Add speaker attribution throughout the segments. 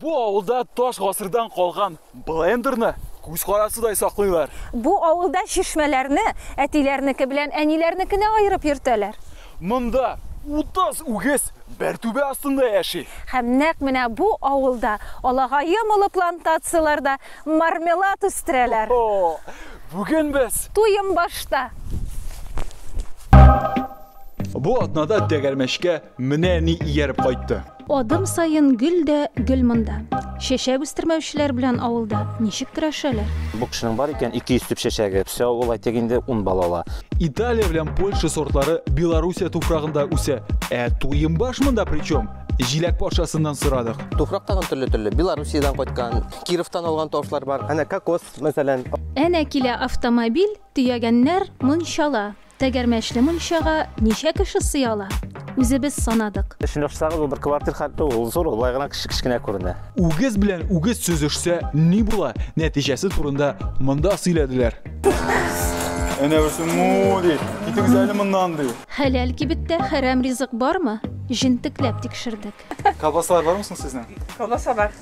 Speaker 1: Бу авылда таш гасырдан калган блендерны күз карасыдай саклыйлар. Бу авылда чишмәләрне әтиләрнеке белән әниләрнекенә аерып йөртәләр. Монда 30 үгез бер түбә астында яши. Һәм нәкъ менә бу авылда алагаем олы плантацияләрдә мармелад үстерәләр. Бүген без Туембашта. Бу атнада тәгәрмәчкә менә ни ияреп кайтты. Адым саен гөл дә гөл монда. Чәчәк үстермәүчеләр белән авылда ничек көрәшәләр? Бу кешенең бар икән 200 төп чәчәге. Все авыл әйтик инде 10 бала ала. Италия белән Польша сортлары Белоруссия туфрагында үсә. Ә туембаш монда при чем? Җиләк патшасыннан сорадык. Туфрак тагын төрле-төрле. Белоруссиядән кайткан, Кировтан алган тавышлар бар. Әнә кокос, мәсәлән. Әнә килә автомобиль, төягәннәр мончала. Тәгәрмәчле мунчага ничә кеше сыя ала? Үзебез санадык. Өчен очсагыз, ул бер квартир хәтле ул, ул зур, болай гына кечкенә күренә. Үгез белән үгез сөзешсә ни була, нәтиҗәсе турында монда сөйләделәр. Әнә берсе му ди, китегез әле моннан ди. Хәләл кибеттә хәрәм ризык бармы? Җентекләп тикшердек. Колбасалар бармы соң сезнең? Колбаса бар.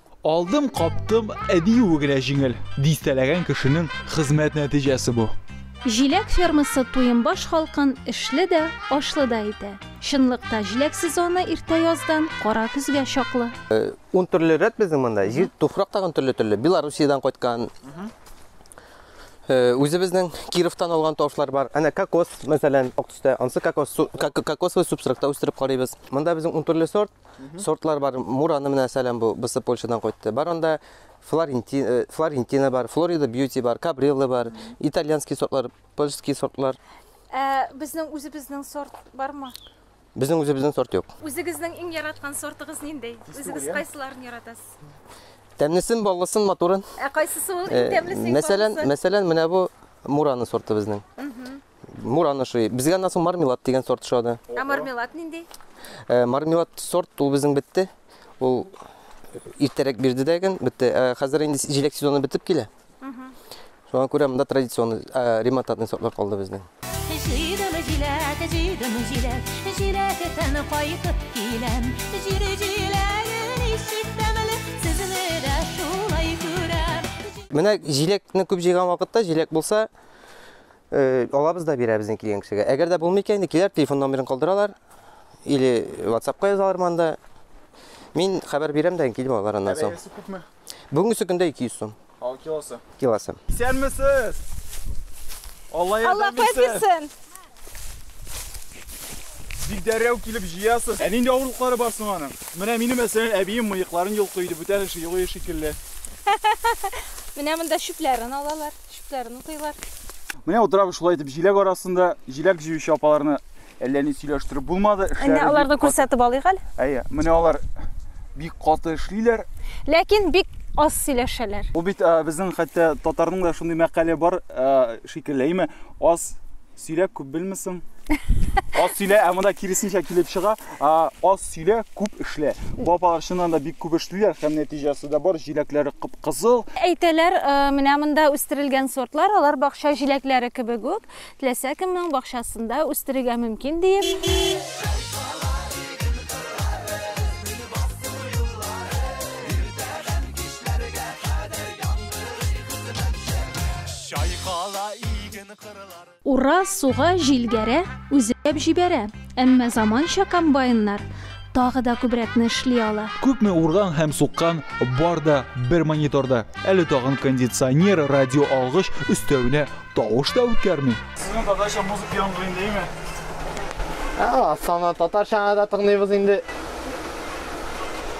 Speaker 1: Алдым, каптым, ә диюе генә җиңел. Дистәләгән кешенең хезмәт нәтиҗәсе бу. Җиләк фермасы Туембаш халкын эшле дә, ашлы да итә. Чынлыкта җиләк сезоны иртә яздан кара көзгә чаклы. Ун төрле рәт безнең монда. Җир, туфрак тагын төрле-төрле. Белоруссиядән кайткан, үзебезнең Кировтан алган тавышлар бар. Әнә кокос, мәсәлән, ак төстә, анысы кокос, кокосовый субстракта үстереп карыйбыз. Монда безнең ун төрле сорт. сортлар бар. Мураны менә сәләм бу бысы Польшадан кайтты. Бар анда Флорентина, э, Флорентина бар, Флорида Бьюти бар, Кабрилла бар, итальянский сортлар, польский сортлар. Ә безнең үзебезнең сорт бармы? Безнең үзебезнең сорт юк. Үзегезнең иң яраткан сортыгыз нинди? Үзегез кайсыларын яратасыз? Тәмлесен, баллысын, матурын. Ә кайсысы ул иң э, тәмлесе? Мәсәлән, мәсәлән, менә бу Мураны сорты безнең. Муран ошый. Безгә аннан соң мармелад дигән сорт ошады. Ә мармелад нинди? Э, мармелад сорт ул безнең бетте. Ул иртәрәк бирде дә икән, бетте. Ә хәзер инде җиләк сезоны бетеп килә. Шуңа күрә монда традиционный э, ремонтатный сортлар калды безнең. Җыйдым җиләк, җыйдым җиләк, җиләк тән кайтып киләм. Җир җиләге ничек тәмле, сезне дә шулай күрәм. Менә җиләкне күп җыйган вакытта, җиләк булса, Алабыз да бирәбез инде килгән кешегә. Әгәр дә булмый икән, киләр, телефон номерын калдыралар. Или WhatsApp-ка язалар монда. Мин хәбәр бирәм дә килеп алар аннан соң. Бәясе күпме? Бүгенге көндә 200 сум. Ал килосы. Килосы. Исәнмесез! Алла ярдәм бирсен. Бик дәррәү килеп җыясыз. Ә нинди авырлыклары бар соң аның? Менә минем мәсәлән әбием мыекларын йолкый иде, бүтән эше юк шикелле. Менә монда чүпләрен алалар. Чүпләрен утыйлар. Менә утырабыз шулай итеп җиләк арасында. Җиләк җыючы апаларны әллә ни сөйләштереп булмады. Әнә аларны күрсәтеп алыйк әле. Әйе, менә алар бик каты эшлиләр. Ләкин бик аз сөйләшәләр. Ул бит безнең хәтта татарның да шундый мәкале бар шикелле, әйме? Аз Сөйлә күп белмисең. Аз сөйлә, ә монда киресенчә килеп чыга. Аз сөйлә, күп эшлә. Бу апалар чыннан да бик күп эшлиләр һәм нәтиҗәсе дә бар. Җиләкләре кып-кызыл. Әйтәләр, э, менә монда үстерелгән сортлар, алар бакча җиләкләре кебек үк, теләсә кемнең бакчасында үстерергә мөмкин диеп. Ура, суга, җил гәрә, үзәп җибәрә. Әмма заманча комбайннар тагы да күбрәкне эшли ала. Күпме урган һәм суккан, бар да бер мониторда. Әле тагын кондиционер, радио алгыч, өстәвенә тавыш та үткәрми. Сезнең татарча музыка яңгырый дәйме? Ә, аны татарчаны да тыңлыйбыз инде.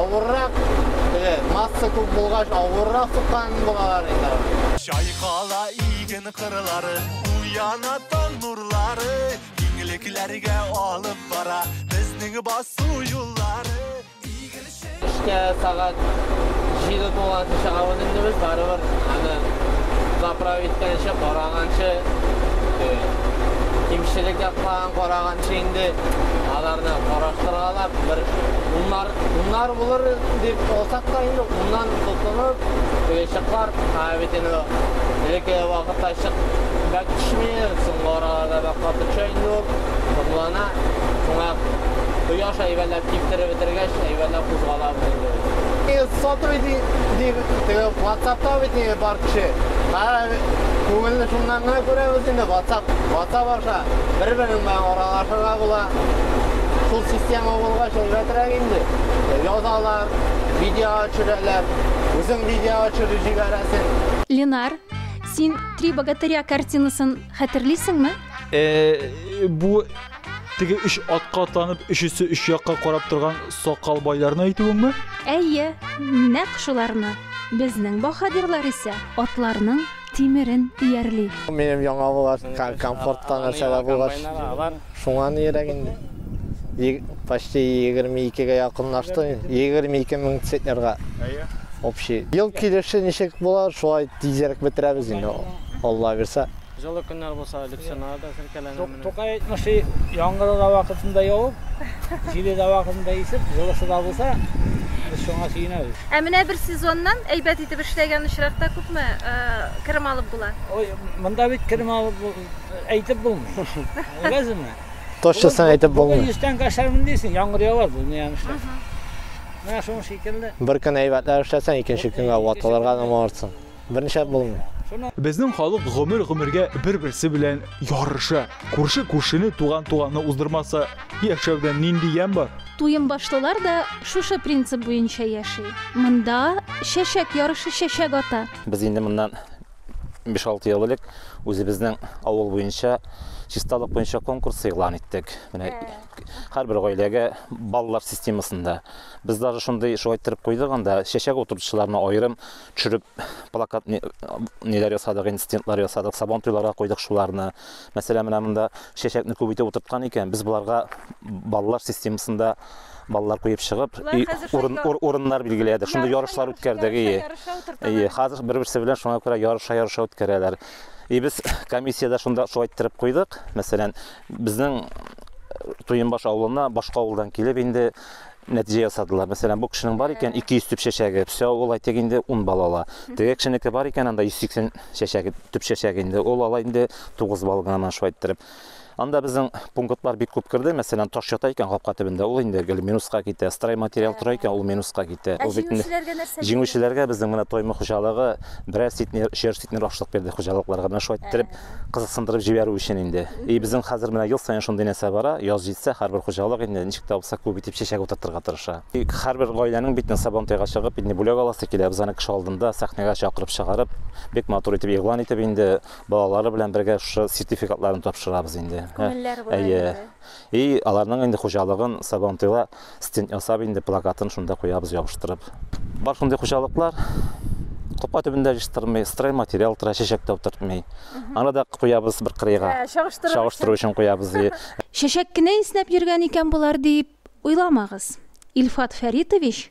Speaker 1: авыррак теге масса күп булгач авыррак тоткан булалар инде чайкала иген кырлары уяна таң нурлары киңлекләргә алып бара безнең басу юллары Эшкә сәгать җиде тулганчы чыгабыз инде без, барыбер аны заправить иткәнче, караганчы, кимчелек якларын караганчы инде аларны караштыргалап, бер уннар, уннар булыр дип алсак та инде, уннан тотынып, чыклар, ә бит инде элекке вакытта чык бәк төшми, соңгы араларда бәк каты төшә инде ул, томлана, шуңа кояш әйбәләп Киптереп бетергәч, әйбәтләп кузгалабыз инде без. Ул сату иде, ди, теге ватсапта бит инде бар кеше. Кара, күңелне шуннан гына күрәбез инде, ватсап, ватсап аша бер-берең белән аралашырга була. Шул система булгач, әйбәтрәк инде. Язалар, видеога төшерәләр, үзең видеога төшереп җибәрәсең. Ленар, син Три богатыря картинасын хәтерлисеңме? Э, бу. Теге үч атка атланып, өчесе үч якка карап торган сакал байларны әйтүеңме? Әйе, нәкъ шуларны. Безнең баһадирлар исә атларның тимерен иярли. Минем яңа булгач, комфорттан нәрсәләр булгач, шуңа нирәк инде. Почти 22-гә якынлашты. 22 мең центнерга. Әйе. Общий. Ел килеше ничек була, шулай тизрәк бетерәбез инде. Алла бирсә. Җылы көннәр булса, элексионнар да селкәләнә. Тукай әйтмешли, яңгыры да вакытында явып, җиле дә вакытында исеп, җылысы да булса, без шуңа сөенәбез. Ә менә бер сезоннан әйбәт итеп эшләгән очракта күпме э, керем алып була? Ой, монда бит керем алып бу- әйтеп булмый. Беләсезме? Точносын әйтеп булмый. Бүген 100 тәңкә эшләрмен дисең, яңгыр явар бу ни эшләп. Менә шуның шикелле. Бер көн әйбәтләр эшләсәң, икенче көнгә ватылырга да моңарсың. Берничә булмый. Безнең халык гомер-гомергә бер-берсе белән ярыша. Күрше күршене, туган туганны уздырмаса, яшәүдән нинди ямь бар? Туембашлылар да шушы принцип буенча яши. Монда чәчәк ярышы чәчәк ата. Без инде моннан биш-алты ел элек үзебезнең авыл буенча чисталык буенча конкурс игълан иттек. Менә һәрбер гаиләгә баллар системасында. Без даже шундый шулай иттереп куйдык анда чәчәк утыртучыларны аерым төшереп плакат ниләр ясадык, инцидентлар ясадык, сабан туйларга койдык шуларны. Мәсәлән, менә монда чәчәкне күп итеп утырткан икән, без боларга балалар системасында балалар куеп чыгып, урын, ур, урыннар билгеләдек. Шунда ярышлар үткәрдек, ие. Ие, хәзер бер-берсе белән шуңа күрә ярыша-ярыша үткәрәләр. И без комиссиядә шунда шулай иттереп куйдык. Мәсәлән, безнең Туенбаш авылына башка авылдан килеп инде нәтиҗә ясадылар. Мәсәлән, бу кешенең бар икән 200 төп чәчәге, все, ул әйтик инде 10 балл ала. Теге кешенеке бар икән анда 180 чәчәге, төп чәчәге инде, ул ала инде 9 балл гына менә шулай иттереп. Анда безнең пунктлар бик күп керде. Мәсәлән, таш ята икән капка төбендә, ул инде гел минуска китә. Строй материал тора икән, ул минуска китә. Ә җиңүчеләргә нәрсә? Җиңүчеләргә безнең менә Тоймы хуҗалыгы берәр ситнер, өчәр ситнер ашлык бирде хуҗалыкларга. Менә шулай иттереп кызыксындырып җибәрү өчен инде. И безнең хәзер менә ел саен шундый нәрсә бара, яз җитсә, һәрбер хуҗалык инде ничек тә булса күп итеп чәчәк утыртырга тырыша. И һәрбер гаиләнең бит Сабантуйга чыгып инде бүләк аласы килә, без аны кеше алдында, сәхнәгә чакырып чыгарып, бик матур итеп игълан итеп инде балалары белән бергә шушы сертификатларны тапшырабыз инде. Күңелләре болай инде. Әйе. И аларның инде хуҗалыгын Сабантуйга стенд ясап инде плакатын шунда куябыз ябыштырып. Бар шундый хуҗалыклар. Капка төбендә җыштырмый, строй материал тора, чәчәк тә утыртмый. Аны да куябыз бер кырыйга. Ә, чагыштырыр өчен. Чагыштыру өчен куябыз. Чәчәк кенә иснәп йөргән икән болар дип уйламагыз. Илфат Фәритович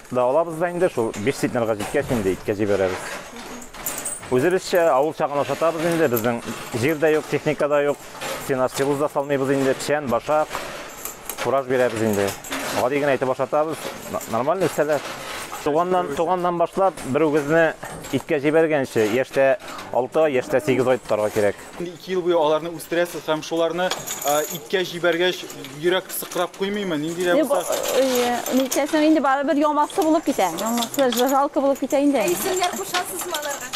Speaker 1: Да алабыз да инде шул биш центнерга җиткәч инде иткә җибәрәбез. Үзебезчә авыл чагын ашатабыз инде, безнең җир дә юк, техника да юк. Сенажсилоз да салмыйбыз инде, печән, башак, фураж бирәбез инде. Гади генә итеп ашатабыз, нормально үсәләр. Туганнан, туганнан башлап, бер үгезне иткә җибәргәнче, яшьтә 6 ай, яшьтә 8 ай тотарга кирәк. Ике ел буе аларны үстерәсез һәм шуларны иткә җибәргәч, йөрәк сыкрап куймыймы? Нинди дә булса. Нишләсәң инде барыбер ямасы булып китә. Ямасы жалко булып китә инде. Ә исемнәр кушасызмы аларга?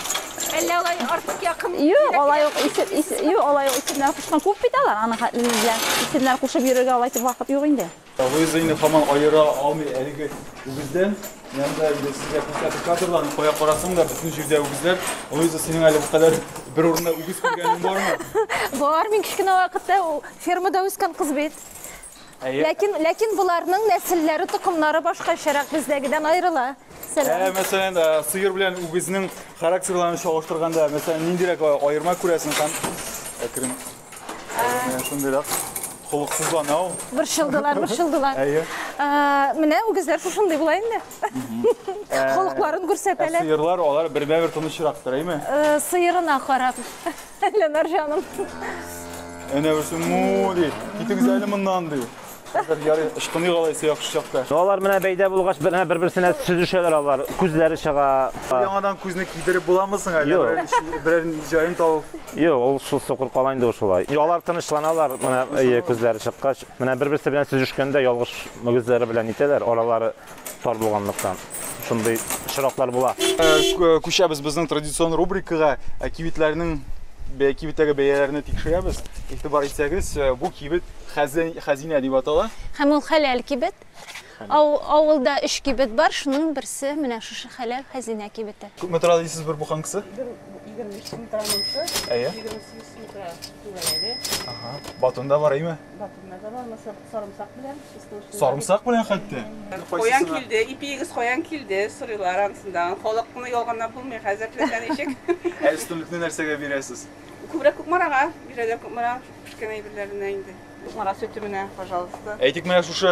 Speaker 1: Әллә алай артык якын? Юк, алай ук исем, юк, алай ук исемнәр кушкан күп бит алар. Аның хәтле белән исемнәр кушып йөрергә алай итеп вакыт юк инде. Луизаины һаман аера алмый әлеге үгездән. Янда инде сезгә күрсәтеп кадрларны кая карасаң да бөтен җирдә үгезләр. Луиза, синең әле бу кадәр бер урында үгез күргәнең бармы? Бар, мин кечкенә вакытта фермада үскән кыз бит. Ләкин, ләкин боларның нәселләре, токымнары башкачарак бездәгедән аерыла. Ә, мәсәлән, сыер белән үгезнең характерларын чагыштырганда, мәсәлән, ниндирәк аерма күрәсең һәм әкрен Шундыйрак холыксызлана ул. Борчылдылар, борчылдылар. Әйе. Менә үгезләр шушындый була инде. Холыкларын күрсәтәләр. Ә сыерлар алар бермә-бер тынычрактыр, әйме? Сыерына карап. Ленар җаным. Әнә берсе му ди. Китегез әле моннан ди. Хәзер ярый ычкыный алайсы яхшы чакта. Алар менә бәйдә булгач, менә бер-берсенә сөзешәләр алар. Күзләре чыга. Яңадан күзне кидереп буламы соң әле? Юк. Берәр- Берәр җаен табып. Юк, ул шул сукыр кала инде ул шулай. И, Алар тынычланалар, менә әйе, күзләре чыккач, менә бер-берсе белән сөзешкәндә ялгыш мөгезләре белән итәләр, аралары Тар булганлыктан шундый очраклар була. Э, күчәбез безнең традицион рубрикага э, кибетләрнең кибеттәге бәяләрне тикшерәбез. Игътибар итсәгез, э, бу кибет хәзинә дип атала. Һәм ул хәләл кибет. Авылда өч кибет бар, шуның берсе менә шушы хәләл хәзинә кибете. Күпме тора дисез бер буханкасы? 25 сум тора монсы. Әйе. 28 сум тора түгәрәге. Ага. Батунда бар, әйме? Батунда да бар, Сарымсак белән чисто учлы. Сарымсак белән хәтта. Каян килде? Ипиегез каян килде? Сорыйлар анысында. Халыкны ялганлап булмый, хәзер теләсә ничек. Ә өстенлекне нәрсәгә бирәсез? Күбрәк Кукмарага бирәләр, Кукмара пешкән әйберләренә инде. Кукмара сөте менә, пожалуйста. Әйтик, менә шушы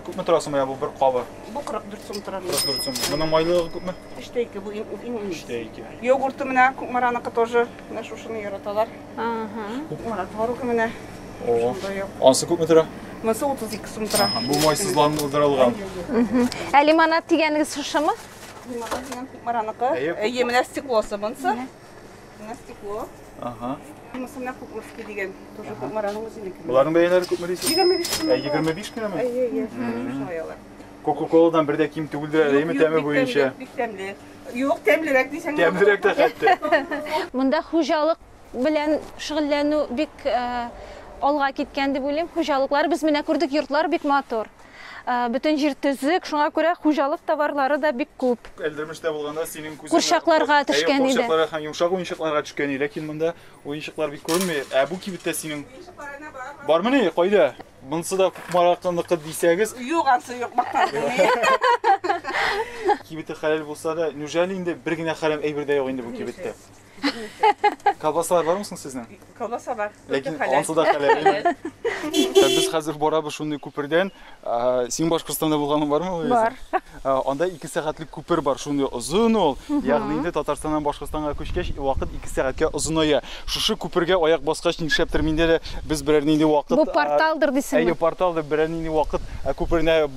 Speaker 1: күпме тора соң менә бу бер кабы? Бу 44 сум тора. 44 сум. Моның майлылыгы күпме? 3 тә 2, бу иң иң. 3 тә 2. Йогурты менә Кукмараныкы тоже, менә шушыны яраталар. Ана творогы менә. Ансы күпме тора? Монысы 32 сум тора. Бу майсызландырылган. Ә лимонад дигәнегез шушымы? Лимонад дигән кукмараныкы. Әйе, менә стеклосы монысы. Менә стекло. Ага. Монысы менә кукмышки дигән. Тоже кукмараның үзенеке. Боларның бәяләре күпме дисез? 25 сум. Ә 25 кенәме? Әйе, әйе. Кока-коладан бер дә ким түгелдер әле, әйеме, тәме буенча? Бик тәмле. Юк, тәмлерәк дисәң. Тәмлерәк тә хәтта. Монда хуҗалык белән шөгыльләнү бик э, алга киткән дип уйлыйм. Хуҗалыклар без менә күрдек, йортлар бик матур. Э, бөтен җир төзек, шуңа күрә хуҗалык товарлары да бик күп. Әлдермештә булганда синең күзең курчакларга төшкән иде. Курчакларга һәм йомшак уенчыкларга төшкән иде, ләкин монда уенчыклар бик күренми. Ә бу кибеттә синең бармыни? Кайда? Монсы да Кукмаракыныкы дисәгез. Юк, ансы юк, мактан Кибете хәләл булса да, неужели инде бер генә хәрәм әйбер дә юк инде бу кибеттә? Колбасалар бармы соң сезнең? Колбаса бар. Ләкин ансы да хәләл. Без хәзер барабыз шундый күпердән. Син Башкортстанда булганың бармы? Бар. Анда ике сәгатьлек күпер бар, шундый озын ул. Ягъни инде Татарстаннан Башкортстанга күчкәч, вакыт ике сәгатькә озыная. Шушы күпергә аяк баскач, нишләптер миндә дә без берәр нинди вакыт... Бу порталдыр дисеңме? Әйе, порталдыр, берәр нинди вакыт күперенә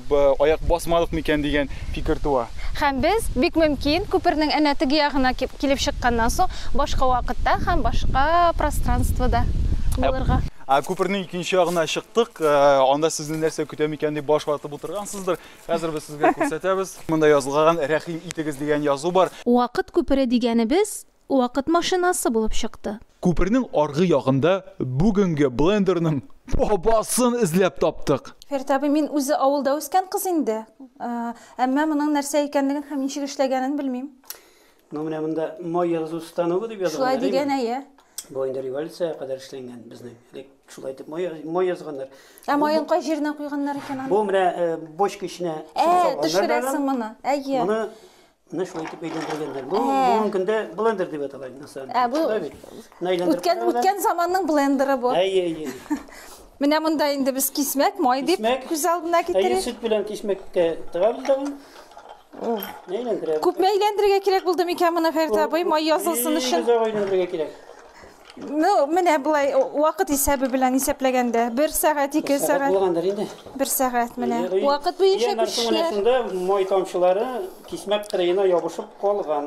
Speaker 1: аяк басмадык микән дигән фикер туа. Һәм без, бик мөмкин, күпернең әнә теге ягына килеп чыкканнан соң, башка вакытта һәм башка пространствода булырга. Күпернең икенче ягына чыктык. Анда сезне нәрсә көтә микән дип баш ватып утыргансыздыр. Хәзер без сезгә күрсәтәбез. Монда язылгаган Рәхим итегез дигән язу бар. Вакыт күпере дигәнебез вакыт машинасы булып чыкты. Күпернең аргы ягында бүгенге блендерның бабасын эзләп таптык. Фәрит абый, мин үзе авылда үскән кыз инде. Әмма моның нәрсә икәнлеген һәм ничек эшләгәнен белмим. Ну менә монда май язу станогы дип язган. Шулай дигән әйе. Бу инде революциягә кадәр эшләнгән безнең. Элек шулай итеп май май язганнар. Ә майын кай җиренә куйганнар икән аны? Бу менә э, бочка эченә Ә, төшерәсең моны. Әйе. Моны менә шулай итеп әйләндергәннәр. Бу ә. бүгенге көндә блендер дип атала инде насаң. Ә бу үткән үткән заманның блендеры бу. Әйе, әйе. Менә монда инде без кисмәк май дип күз алдына китерик. Әйе, сөт белән кисмәккә тыгабыз да. Әйләндерә. Күпме әйләндерергә кирәк булды микән моны Фәрит абый? Май язылсын өчен. Бик озак әйләндерергә кирәк. Ну, менә болай вакыт исәбе белән исәпләгәндә, 1 сәгать, 2 сәгать. Булгандыр инде. 1 сәгать менә. Вакыт буенча күчкә. Май тамчылары кисмәк кырыена ябышып калган.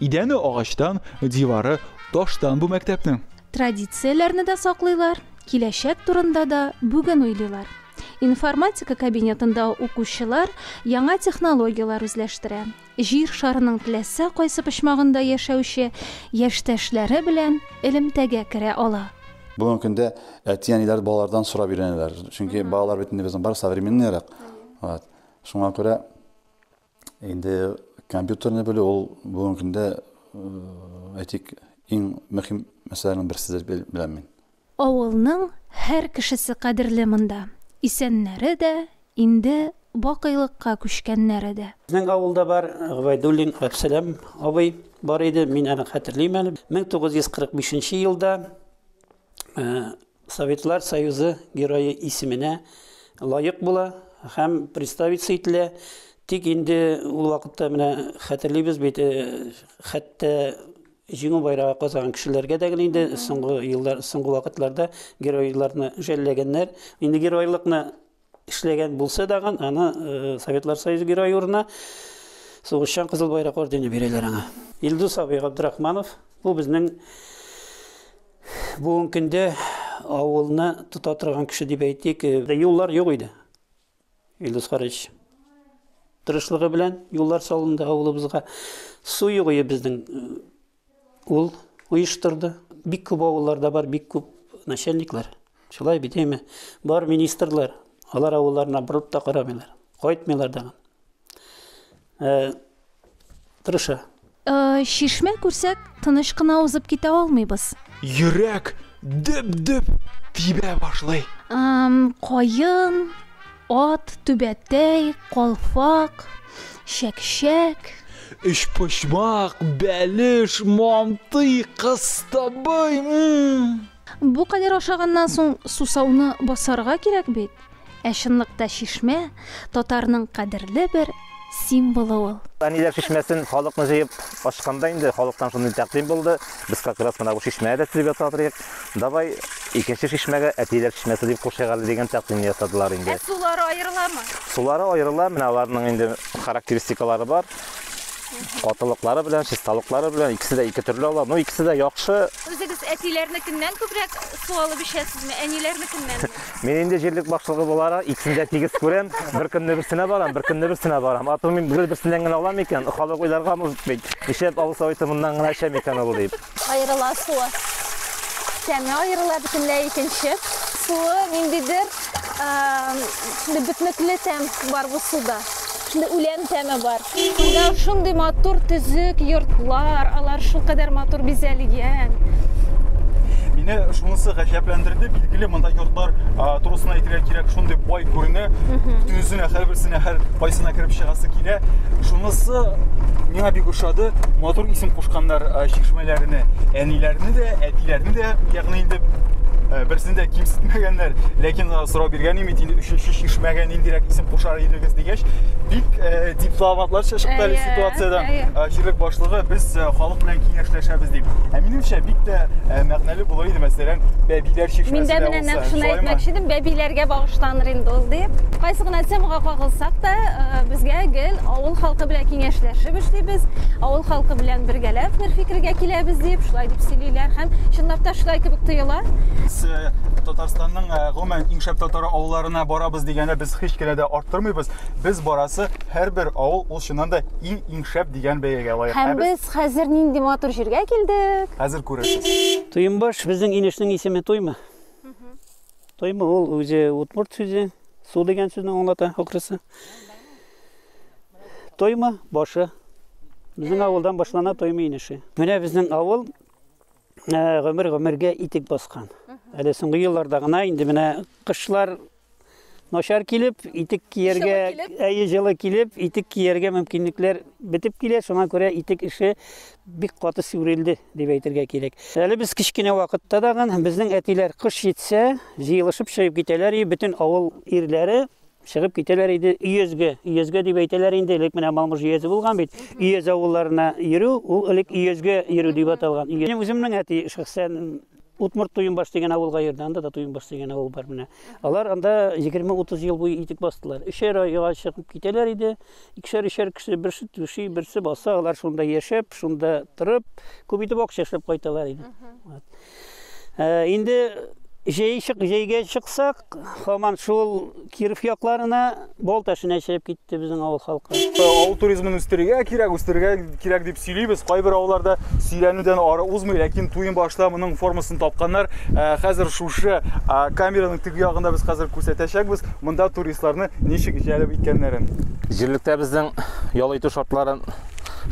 Speaker 1: Идәне агачтан, дивары таштан бу мәктәпнең. Традицияләрне дә саклыйлар, киләчәк турында да бүген уйлыйлар. Информатика кабинетында укучылар яңа технологияләр үзләштерә, Җир шарының теләсә кайсы почмагында яшәүче яшьтәшләре белән элемтәгә керә ала. Бүгенге көндә әти-әниләр балалардан сорап өйрәнәләр, чөнки балалар бит инде безнең бар современныйрак. Вот. Шуңа күрә Инде компьютерны белү ул бүгенге көндә, әйтик, иң мөһим мәсьәләнең берсе дип беләм мин. Авылның һәр кешесе кадерле монда, исәннәре дә, инде бакыйлыкка күчкәннәре дә. Безнең авылда бар Гобәйдуллин Габсәлам абый бар иде, мин аны хәтерлим әле. 1945 нче елда Советлар Союзы Герое исеменә лаек була һәм представиться ителә. Тик инде ул вакытта менә хәтерлибез бит, хәтта җиңү байрагы казаган кешеләргә дә генә инде соңгы еллар, соңгы вакытларда геройларны жәлләгәннәр. Инде геройлыкны эшләгән булса дагы, аны э, Советлар Союзы герое урынына сугышчан Кызыл Байрак ордены бирәләр аңа. Илдус абый Габдрахманов, бу безнең бүгенге көндә авылны тота торган кеше дип әйтик. Э, юллар юк иде. Илдус Харич тырышлыгы белән юллар салынды авылыбызга. Су юк иде безнең э, Ул оештырды. Бик күп авылларда бар, бик күп начальниклар. Шулай бит әйме? Бар министрлар, алар авылларына борылып та карамыйлар. Кайтмыйлар да. Э, тырыша. Э, шишмә күрсәк, тыныч кына узып китә алмыйбыз. Йөрәк дөп-дөп тибә башлый. Эм, каен, Ат, түбәтәй, калфак, чәкчәк. Өчпочмак, бәлеш, мантый, кыстыбый, м-м. Бу кадәр ашаганнан соң сусауны басарга кирәк бит. Ә чынлыкта чишмә, татарның кадерле бер символы ул. Әниләр чишмәсен халыкны җыеп ачканда инде халыктан шундый тәкъдим булды, без как раз менә бу чишмәгә дә төзеп ясап торыйк, давай икенче чишмәгә Әтиләр чишмәсе дип кушыйк әле дигән тәкъдимне ясадылар инде. Ә сулары аерыламы? Сулары аерыла, менә аларның инде характеристикалары бар. Катылыклары белән, чисталыклары белән икесе дә ике төрле ала. Ну, икесе дә яхшы. Үзегез әтиләрнекеннән күбрәк су алып эчәсезме, әниләрнекеннән? Мин инде җирлек башлыгы буларак икесен дә тигез күрәм. Бер көнне берсенә барам, бер көнне берсенә барам. Ату мин гел берсеннән генә алам икән, халык уйларга мөмкин бит. Нишләп авыл советы моннан гына эчә микән ул дип. Аерыла суы. Тәме аерыла бөтенләй икенче. Суы ниндидер бөтнекле тәм бар бу суда. Шундый үлән тәме бар. Монда шундый матур төзек йортлар, алар шулкадәр матур бизәлгән. Мине шунысы гаҗәпләндерде, билгеле, монда йортлар турысына әйтергә кирәк, шундый бай күренә, төзенә һәрберсенә һәр кайсына кереп чыгасы килә. Шунысы миңа бик ошады, матур исем кушканнар чишмәләренә, әниләрне дә, әтиләрне дә, ягъни инде берсен дә кимсетмәгәннәр, ләкин сорау биргән идем инде өченче чишмәгә ниндирәк исем кушар идегез дигәч бик э, дипломатлар чыкты әле ситуациядән э, җирлек башлыгы без э, халык белән киңәшләшәбез дип ә минемчә бик тә э, мәгънәле булыр иде мәсәлән бәбиләр чишмәсе мин дә менә нәкъ шуны әйтмәкче идем бәбиләргә багышланыр инде ул дип кайсы гына темага кагылсак та э, безгә гел авыл халкы белән киңәшләшеп эшлибез авыл халкы белән бергәләп бер фикергә киләбез дип шулай дип сөйлиләр һәм чынлап та шулай кебек тоела э, татарстанның Ә, гомумән, иң шәп татар авылларына барабыз дигәндә без һич кенә дә арттырмыйбыз. Без барасы һәрбер авыл ул чыннан да иң иң шәп дигән бәягә лаек. Һәм без хәзер нинди матур җиргә килдек. Хәзер күрерсез. Туембаш безнең инешнең исеме Туймы. Туймы ул үзе утмурт сүзе, су дигән сүзне аңлата акрысы. Тойма башы. Безнең авылдан башлана Тойма инеше. Менә безнең авыл Ә, гомер гомергә итек баскан. Әле соңгы елларда гына инде менә кышлар начар килеп, итек кияргә, әйе җылы килеп, итек кияргә мөмкинлекләр бетеп килә, шуңа күрә итек эше бик каты сүрелде дип әйтергә кирәк. Әле без кечкенә вакытта дагы безнең әтиләр кыш җитсә, җыелышып чыгып китәләр и бөтен авыл ирләре чыгып китәләр иде өязгә. Өязгә дип әйтәләр инде, элек менә Малмыж өязе булган бит. Өяз авылларына йөрү, ул элек өязгә йөрү дип аталган. Минем үземнең әти шәхсән Утмурт Туйынбаш дигән авылга йөрде, анда да Туйынбаш дигән авыл бар менә. Алар анда 20-30 ел буе итек бастылар. Өчәр айга чыгып китәләр иде. Икешәр-өчәр кеше берсе түши, берсе баса, алар шунда яшәп, шунда торып, күп итеп акча эшләп кайталар иде. Инде җәй чык, җәйгә чыксак, хаман шул Киров якларына Бол ташына чыгып китте безнең авыл халкы. Авыл туризмын үстерергә кирәк, үстерергә кирәк дип сөйлибез. Кайбер авылларда сөйләнүдән ары узмый, ләкин туен башта моның формасын тапканнар. Хәзер шушы камераның теге ягында без хәзер күрсәтәчәкбез, монда туристларны ничек җәлеп иткәннәрен. Җирлектә безнең ял итү шартларын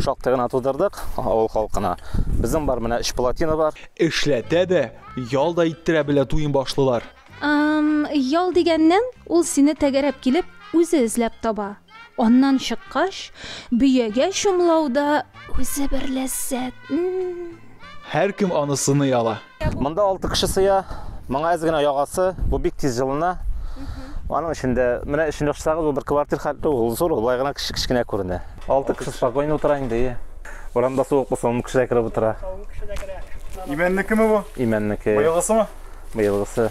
Speaker 1: Шактый гына тудырдык авыл халкына. Безнең бар менә өч плотина бар. Эшләтә дә, ял да иттерә белә туен башлылар. Ял дигәннән, ул сине тәгәрәп килеп, үзе эзләп таба. Аннан чыккач, бөягә чумлау да үзе бер ләззәт. Һәркем аны сыный ала. Монда алты кеше сыя. Моңа әз генә ягасы. Бу бик тиз җылына. Аның өчен дә менә өчен яшсагыз, ул бер квартир хәтле ул зур, ул гына кеше кечкенә күренә. Алты кеше спокойно утыра инде. Урамда суык булса, ун кеше дә кереп утыра. Имәннекеме бу? Имәннеке. Быелгысымы? Быелгысы.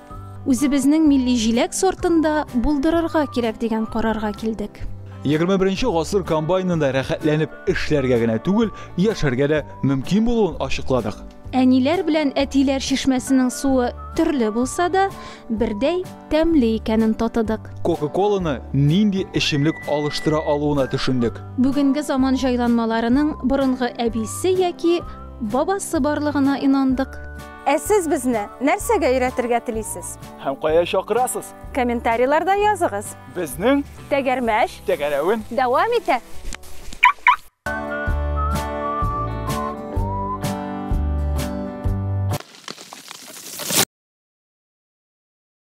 Speaker 1: Үзебезнең милли җиләк сортын да булдырырга кирәк дигән карарга килдек. 21 гасыр комбайнында рәхәтләнеп эшләргә генә түгел, яшәргә дә мөмкин булуын ачыкладык. Әниләр белән әтиләр чишмәсенең суы төрле булса да, бердәй тәмле икәнен татыдык. Кока-коланы нинди эчемлек алыштыра алуына төшендек. Бүгенге заман җайланмаларының борынгы әбисе яки бабасы барлыгына инандык. Ә сез безне нәрсәгә өйрәтергә телисез? Һәм кая чакырасыз? Комментарийларда языгыз. Безнең Тәгәрмәч тәгәрәвен дәвам итә.